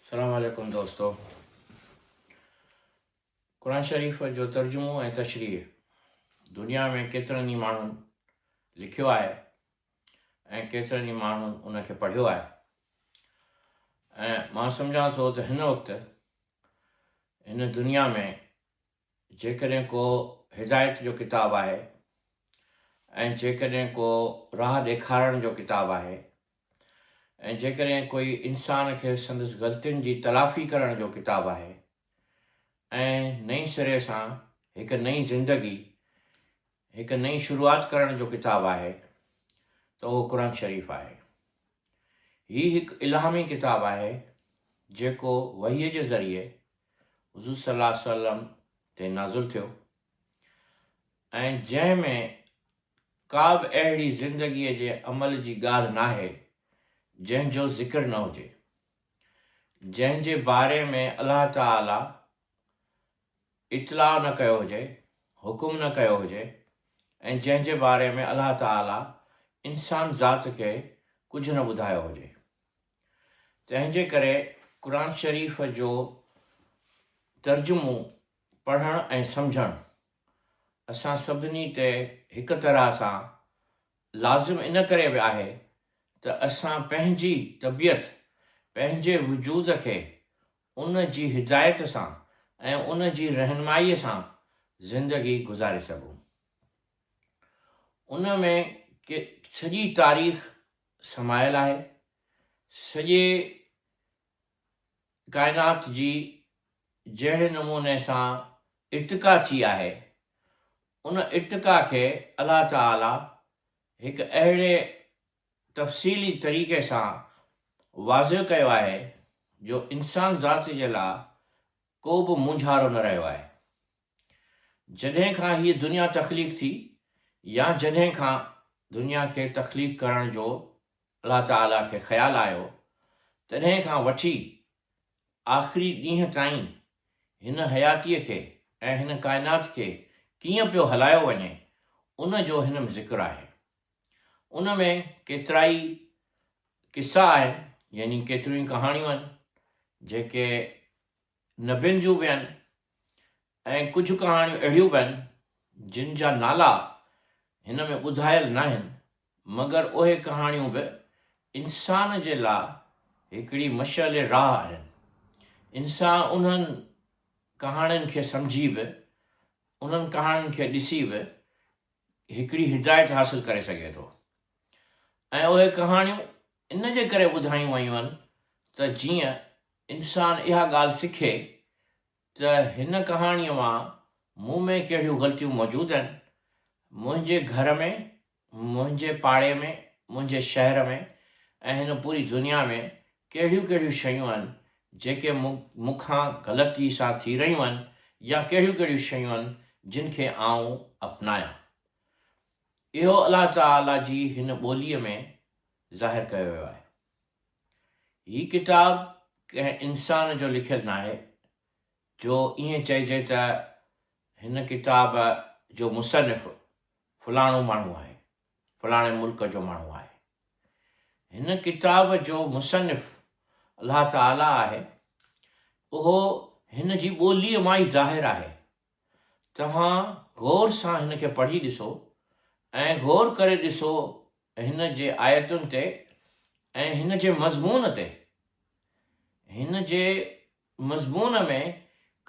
سلام عليڪم دوستو قرآن شريف جو ترجمو ۽ تشريح دنيا ۾ ڪيترن ئي ماڻهن لکيو آهي ۽ ڪيترن ئي ماڻهن ان کي پڙهيو آهي ۽ مان سمجهان ٿو ته هن وقت هن دنيا ۾ جيڪڏهن ڪو هدايت جو ڪتاب آهي ۽ جيڪڏهن ڪو راهه ڏيکارڻ جو ڪتاب آهي ۽ جيڪڏهن ڪوئي انسان کي سندس غلطين جي تلافي ڪرڻ جو ڪتاب آهي ۽ نئين سري سان هڪ نئين زندگي هڪ نئين شروعات ڪرڻ جو ڪتاب آهي ته اهو قرآن شريف آهي هي هڪ الهامي ڪتاب آهي جيڪو وحيء جي ذريعي حضور صلّي اللّٰه عليه وسلّم تي نازل ٿيو ۽ جنهن ۾ ڪا به اهڙي زندگيء جي عمل جي ڳالهه ناهي جنهن جو ذڪر نه هجي، جنهن جي باري ۾ الله تعالٰي اطلاع نه ڪيو هجي، حڪم نه ڪيو هجي ۽ جنهن جي باري ۾ الله تعالٰي انسان ذات کي ڪجهه نه ٻڌايو هجي. تنهنجي ڪري قرآن شريف جو ترجمو پڙهڻ ۽ سمجهڻ اسان سڀني تي هڪ طرح سان لازم ان ڪري به آهي ته اسان پنهنجي طبيعت پنهنجي وجود کي ان جي هدايت سان ۽ ان جي رهنمائي سان زندگي گذاري سگهون ان ۾ سڄي تاريخ سمايل آهي. سڄي ڪائنات جي جهڙي نموني سان ارتقا ٿي آهي، ان ارتقا کي الله تعاليٰ هڪ اهڙي تفصيلي طريقي سان واضح ڪيو آهي جو انسان ذات جي لاء ڪو به مونجهارو نه رهيو آهي. جڏهن کان هيء دنيا تخليق ٿي يا جڏهن کان دنيا کي تخليق ڪرڻ جو الله تعاليٰ کي خيال آيو تڏهن کان وٺي آخري ڏينهن تائين هن حياتيء کي ۽ هن ڪائنات کي ڪيئن پيو هلايو وڃي ان جو هن ۾ ذڪر آهي. ان ۾ ڪيترائي قصا آهن يعني ڪيتريون ئي ڪهاڻيون آهن جيڪي نبين جون به آهن ۽ ڪجهه ڪهاڻيون اهڙيون به آهن جن جا نالا هن ۾ ٻڌايل ناهن مگر اهي ڪهاڻيون به انسان جي لاء هڪڙي مشعل راهه آهن. انسان انهن ڪهاڻين کي سمجهي به انهن ڪهاڻين کي ڏسي به هڪڙي هدايت حاصل ڪري سگهي ٿو ۽ اهي ڪهاڻيون ان جي ڪري ٻڌايون ويون آهن ته جيئن انسان اها ڳالهه سکي ته هن ڪهاڻيء مان مون ۾ ڪهڙيون غلطيون موجود آهن، منهنجي گهر ۾، منهنجي پاڙي ۾، منهنجي شهر ۾ ۽ هن پوري دنيا ۾ ڪهڙيون ڪهڙيون شيون آهن جيڪي مون کان غلطيء سان ٿي رهيون آهن يا ڪهڙيون ڪهڙيون شيون آهن جن کي آئون اپنايان. اهو الله تعاليٰ جي هن ٻوليء ۾ ظاهر ڪيو ويو آهي. هي ڪتاب ڪنهن انسان جو لکيل ناهي، جو ائين چئجي ته هن ڪتاب جو مصنف فلاڻو ماڻهو آهي، فلاڻي ملڪ جو ماڻهو آهي. هن ڪتاب جو مصنف الله تعاليٰ آهي، اهو هن جي ٻوليء مان ئي ظاهر آهي. توهان غور سان هن کي پڙهي ڏسو ۽ غور ڪري ڏسو هن جي آيتن تي ۽ هن جي مضمون تي. هن جي مضمون ۾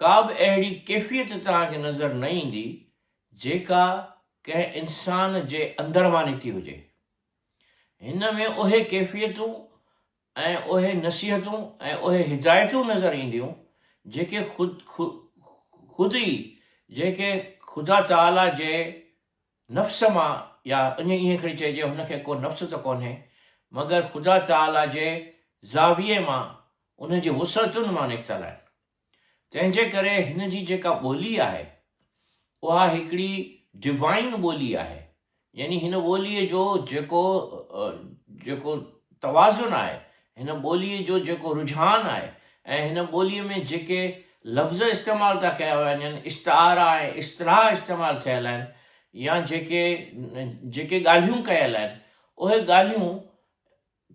ڪا به اهڙي ڪيفيت توهان کي نظر نه ايندي جيڪا ڪنهن انسان جي اندر مان نڪتي هجي. هن ۾ اهي ڪيفيتون ۽ اهي نصيحتون ۽ اهي هدايتون نظر اينديون جيڪي خود ئي جيڪي خدا تعاليٰ جي نفس مان يا ائين کڻي چئجي هن کي ڪو نفس ته ڪونهي مگر خدا تعاليٰ جي زاويي مان ان جي وسعتن مان نڪتل آهن. تنهن جي ڪري هن جي جيڪا ٻولي آهي اها هڪڙي ڊوائين ٻولي آهي يعني هن ٻولي جو جيڪو جيڪو توازن آهي هن ٻولي جو جيڪو رجحان آهي ۽ هن ٻولي ۾ جيڪي لفظ استعمال ٿا ڪيا وڃن استعارا ۽ اصطلاح استعمال ٿيل آهن يا جيڪي جيڪي ڳالهيون ڪيل آهن اهي ڳالهيون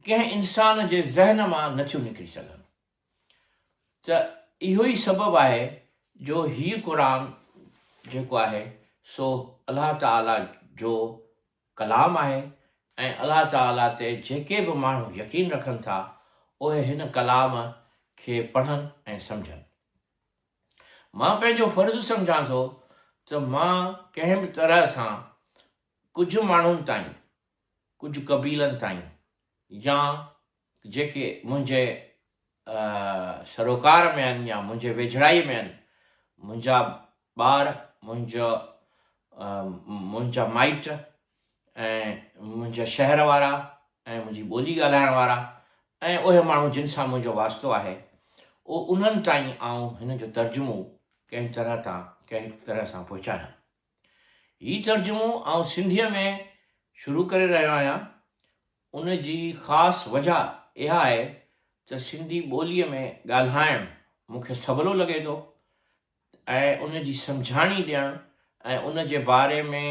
ڪنهن انسان جي ذهن مان نٿيون نڪري سگهن ته اهو ئي سبب آهي جو هي قرآن جيڪو آهي سو الله تعاليٰ جو ڪلام آهي ۽ الله تعاليٰ تي جيڪي به ماڻهو يقين رکن ٿا اهي هن ڪلام کي پڙهن ۽ سمجهن. مان پنهنجو فرض سمجهان ٿو ته مان ڪنهن به طرح سان ڪجهه ماڻهن تائين، ڪجهه قبيلن تائين يا جيڪي منهنجي سروڪار ۾ آهن يا منهنجي ويجهڙائيء ۾ آهن، منهنجا ٻار، منهنجا منهنجا مائٽ ۽ منهنجا شهر وارا ۽ منهنجي ٻولي ڳالهائڻ وارا ۽ اهي ماڻهو جن سان منهنجو واسطو آهي، انهن تائين آئون هن جو ترجمو ڪنهن طرح تان ڪنهن طرح سان پهچايان. هي ترجمو آئون سنڌيء ۾ شروع ڪري رهيو آهيان، ان جي خاص وجهه اها آهي ته سنڌي ٻوليء ۾ ڳالهائڻ مون کي سولو لڳي ٿو ۽ ان جي سمجهاڻي ڏيڻ ۽ ان جي باري ۾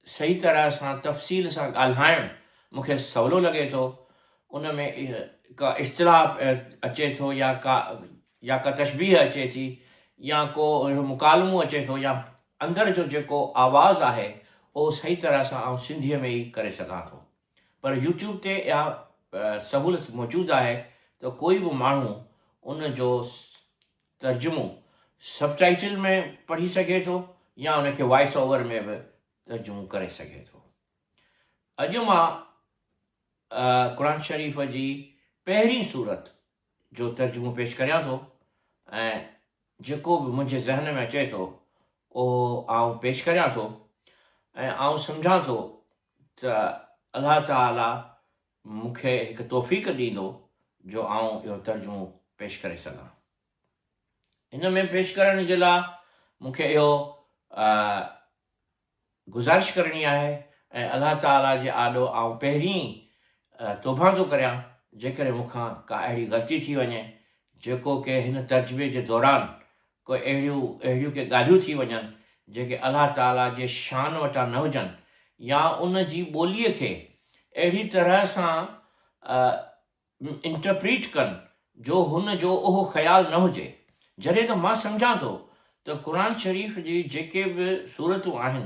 صحيح طرح سان تفصيل سان ڳالهائڻ مون کي سولو لڳي ٿو، ان ۾ ڪا اصطلاح اچي ٿو يا ڪا يا ڪا تشبيهه اچي ٿي يا ڪو اهڙو مڪالمو اچي ٿو يا اندر جو جيڪو آواز آهي اهو صحيح طرح سان آئون سنڌيء ۾ ئي ڪري سگهان ٿو پر يوٽيوب تي اها سهولت موجود آهي ته ڪوئي به ماڻهو ان جو ترجمو سب ٽائيٽل ۾ پڙهي سگهي ٿو يا ان کي وائس اوور ۾ به ترجمو ڪري سگهي ٿو اڄ مان قرآن شريف جي پهرين صورت جو ترجمو پيش ڪريان ٿو ۽ جيڪو به منهنجي ذهن ۾ اچي ٿو اهو آئون پيش ڪريان ٿو ۽ آئون سمجهان ٿو ته الله تعالي مون کي هڪ توفيق ڏيندو جو آئون اهو ترجمو پيش ڪري سگهان ان ۾ پيش ڪرڻ جي لاء مون کي اهو گذارش ڪرڻي آهي ۽ الله تعاليٰ جي آڏو آئون پهرين توبهان ٿو ڪريان جيڪڏهن مون کان ڪا اهڙي غلطي ٿي وڃي جيڪو ڪي هن ترجمي جي دوران ڪو اهڙيون اهڙيون ڪي ڳالهيون ٿي وڃن جيڪي الله تعاليٰ جي شان وٽان نه هجن يا ان جي ٻوليء کي اهڙي طرح سان انٽرپريٽ ڪن جو هن جو اهو خيال نه هجي. جڏهن ته مان سمجهان ٿو ته قرآن شريف جي جيڪي به سورتون آهن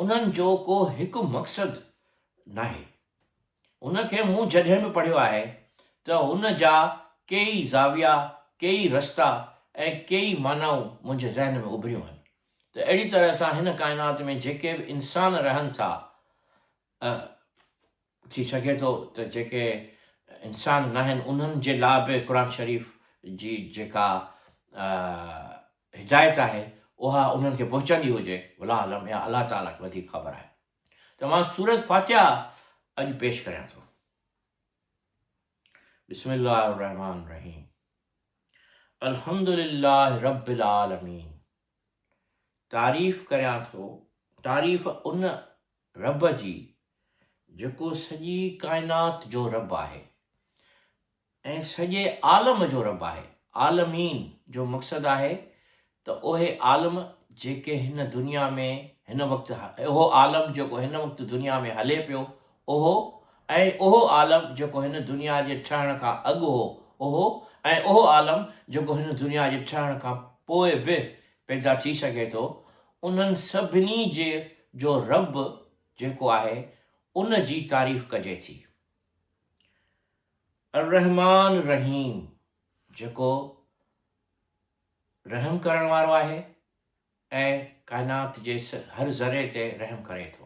انهن جو ڪو هڪ مقصد ناهي. ان کي مون جڏهن به پڙهيو آهي ته ان جا ڪيئي زاويا، ڪيئي رستا ۽ ڪيئي معنائون منهنجي ذهن ۾ اڀريون آهن ته اهڙي طرح سان هن ڪائنات ۾ جيڪي به انسان رهن ٿا ۽ ٿي سگهي ٿو ته جيڪي انسان ناهن انهن جي لا به قرآن شريف جي جيڪا هدايت آهي اها انهن کي پهچندي هجي والله اعلم يا الله تعاليٰ کي وڌيڪ خبر آهي ته مان سورة فاتحه اڄ پيش ڪريان ٿو بسم الله الرحمن الرحيم الحمد لله رب العالمين تعريف ڪريان ٿو، تعريف ان رب جي جيڪو سڄي ڪائنات جو رب آهي ۽ سڄي عالم جو رب آهي، عالمين جو مقصد آهي ته اهي عالم جيڪي هن دنيا ۾ هن وقت اهو عالم جيڪو هن وقت دنيا ۾ هلي پيو اهو ۽ اهو عالم جيڪو هن دنيا جي ٺهڻ کان اڳ هو، اهو ۽ اهو عالم جيڪو هن دنيا جي ٺهڻ کان پوء به پيدا ٿي سگهي ٿو، انهن سڀني جي جو رب جيڪو آهي ان جي تعريف ڪجي ٿي. الرحمان الرحيم جيڪو رحم ڪرڻ وارو آهي ۽ ڪائنات جي هر ذري تي رحم ڪري ٿو.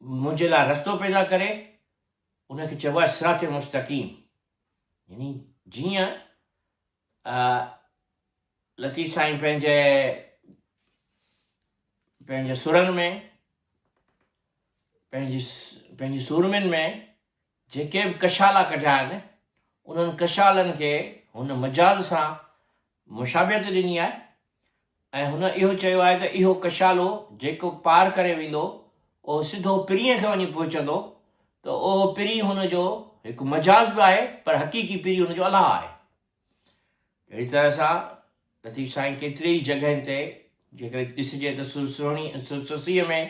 منهنجي لاء رستو پيدا ڪري، ان کي چئبو آهي صراط مستقيم يعني جيئن لطيف سائين پنهنجي پنهنجي سرن ۾ پنهنجي پنهنجي سورمين ۾ جيڪي به ڪشالا ڪڍيا آهن، انهن ڪشالن کي هن مجاز سان مشابهت ڏني آهي ۽ هن اهو چيو آهي ته اهو ڪشالو جيڪو پار ڪري ويندو، اهو سڌو پرينء کي وڃي پهچندو، ته اهو پرين هن جو هڪ مجاز به آهي، پر حقيقي پرين هن جو الله آهي. اهڙي طرح سان لطيف سائين ڪيتري ئي جڳهين تي جيڪڏهن ڏسجي ته سرسهڻي سرسسيء ۾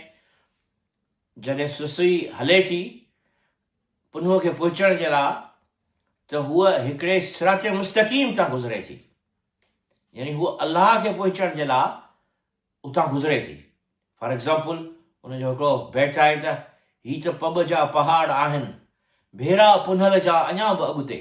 جڏهن سسئي هلي ٿي پنهونء کي پهچڻ جي لاء ته هوء هڪڙي صراط مستقيم تان گذري ٿي، يعني هوء الله کي پهچڻ جي لاء اتان گذري ٿي. فار ايگزامپل ان جو هڪڙو بيت آهي ته، هي ته پٻ جا پهاڙ آهن، ڀيرا پنهل جا اڃا به اڳتي.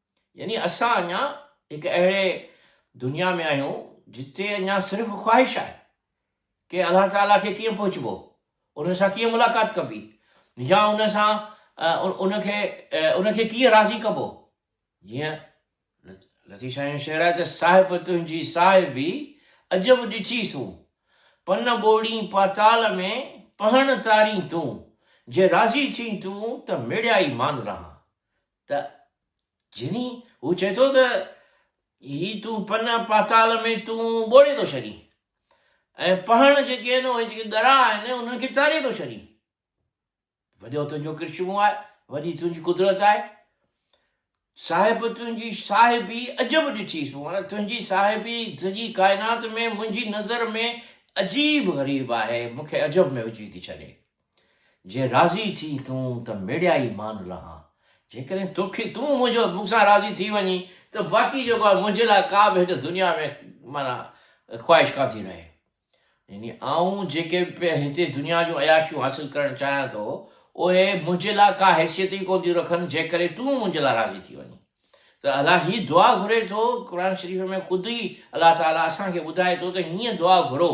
يعني اسان اڃا هڪ اهڙي دنيا ۾ آهيون جتي اڃا صرف خواهش آهي ڪي الله تعاليٰ کي ڪيئن پهچبو ان سان ڪيئن ملاقات ڪبي يا ان سان ان کي ان کي ڪيئن راضي ڪبو جيئن لطيف سائين جو شعر آهي ته صاحب تنهنجي صاحبي عجب ڏٺي سون پن ٻوڙي پاتال ۾ پهڻ تاري تون جي راضي ٿي تون ته مڙيائي مان رهان ته جني هو چئي ٿو ته هي تون پنا پاتال ۾ تون ٻوڙي ٿو ڇڏين ۽ پهڻ جيڪي آهن اهي جيڪي ڳرا آهن انهن کي چاري ٿو ڇڏين وڏو تنهنجو ڪرشمو آهي وڏي تنهنجي قدرت آهي صاحب تنهنجي صاحبي عجب ڏٺي سو هاڻ تنهنجي صاحبي سڄي ڪائنات ۾ منهنجي نظر ۾ عجيب غريب آهي مونکي عجب ۾ وجهي ٿي ڇڏي جي راضي ٿي تون ته ميڙيائي مان لهان، جيڪڏهن توکي تون منهنجو مون سان راضي ٿي وڃين ته باقي جيڪو آهي منهنجي لاء ڪا به هن دنيا ۾ معنيٰ خواهش ڪا ٿي رهي. يعني آئون جيڪي به هتي دنيا جون عياشيون حاصل ڪرڻ چاهيان ٿو اهي منهنجي لاء ڪا حيثيت ئي ڪونه ٿيون رکن جيڪڏهن تون منهنجي لاء راضي ٿي وڃين ته الله هي دعا گهري ٿو قرآن شريف ۾ خود ئي الله تعاليٰ اسان کي ٻڌائي ٿو ته هيئن دعا گهرو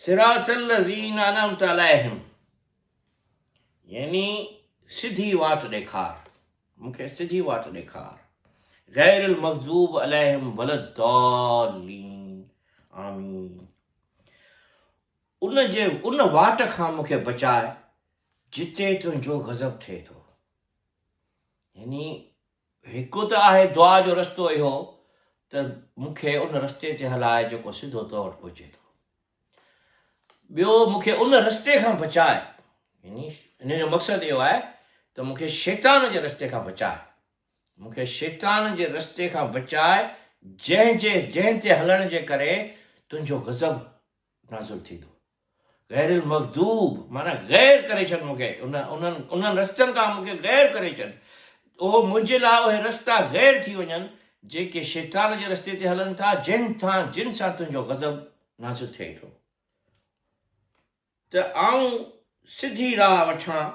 صراط الذين انعمت عليهم يعني سڌي واٽ ڏيکار مونکي سڌي واٽ ڏيکار غير المغضوب عليهم ولا الضالين آمين ان جي ان واٽ کان مونکي بچاء جتي تنهنجو غضب ٿئي ٿو يعني هڪ ته آهي دعا جو رستو اهو ته مون کي ان رستي تي هلاء جيڪو سڌو تو وٽ پهچي ٿو. ٻيو مون کي ان رستي کان بچاء يعني ان جو مقصد اهو آهي ته مون کي شيطان جي رستي کان بچاء. مون کي شيطان جي رستي کان بچاء جنهن جي جنهن تي هلڻ جي ڪري تنهنجو غضب نازل ٿيندو. غير المغضوب معنيٰ غير ڪري ڇڏ مون کي انهن انهن رستن کان مون کي غير ڪري ڇڏ اهو منهنجي لاء اهي رستا غير ٿي وڃن جيڪي شيطان جي رستي تي هلن ٿا جن سان جن سان تنهنجو غضب نازل ٿئي ٿو ته آئون سڌي راهه وٺان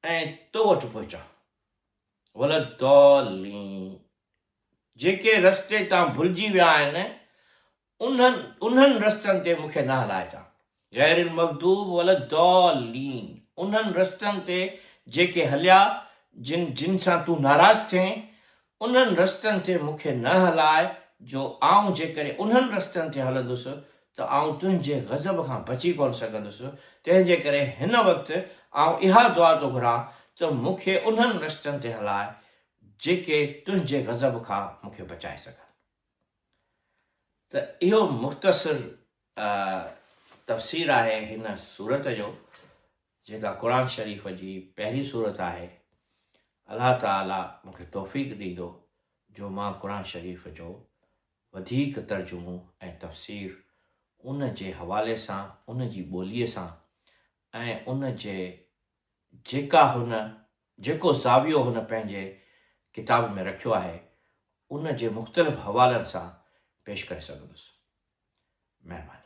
۽ تو وٽ پهچان ولدالين جيڪي رستي تان ڀلجي ويا آهن انهن انهن رستن تي مون کي نه هلائي تان غير المغضوب ولا الضالين انهن رستن تي جيڪي هليا جن جن سان تون ناراض ٿئين انهن رستن تي مون کي نه هلاء جو آئون جيڪڏهن انهن رستن تي هلندس ته آئون تنهنجي غضب کان بچي ڪونه سگهندس تنهن جي ڪري هن وقت آئون اها دعا ٿو گهران ته مون کي انهن رستن تي هلاء جيڪي تنهنجي غضب کان مون کي بچائي سگهن. ته اهو مختصر تفسير آهي هن سورت جو جيڪا قرآن شريف جي پهرين سورت آهي الله تعالي مون کي توفيق ڏيندو جو مان قرآن شريف جو وڌيڪ ترجمو ۽ تفسير ان جي حوالي سان ان جي ٻوليء سان ۽ ان جي جيڪا هن جيڪو زاويو هن پنهنجي ڪتاب ۾ رکيو آهي، ان جي مختلف حوالن سان پيش ڪري سگهندس. مهرباني.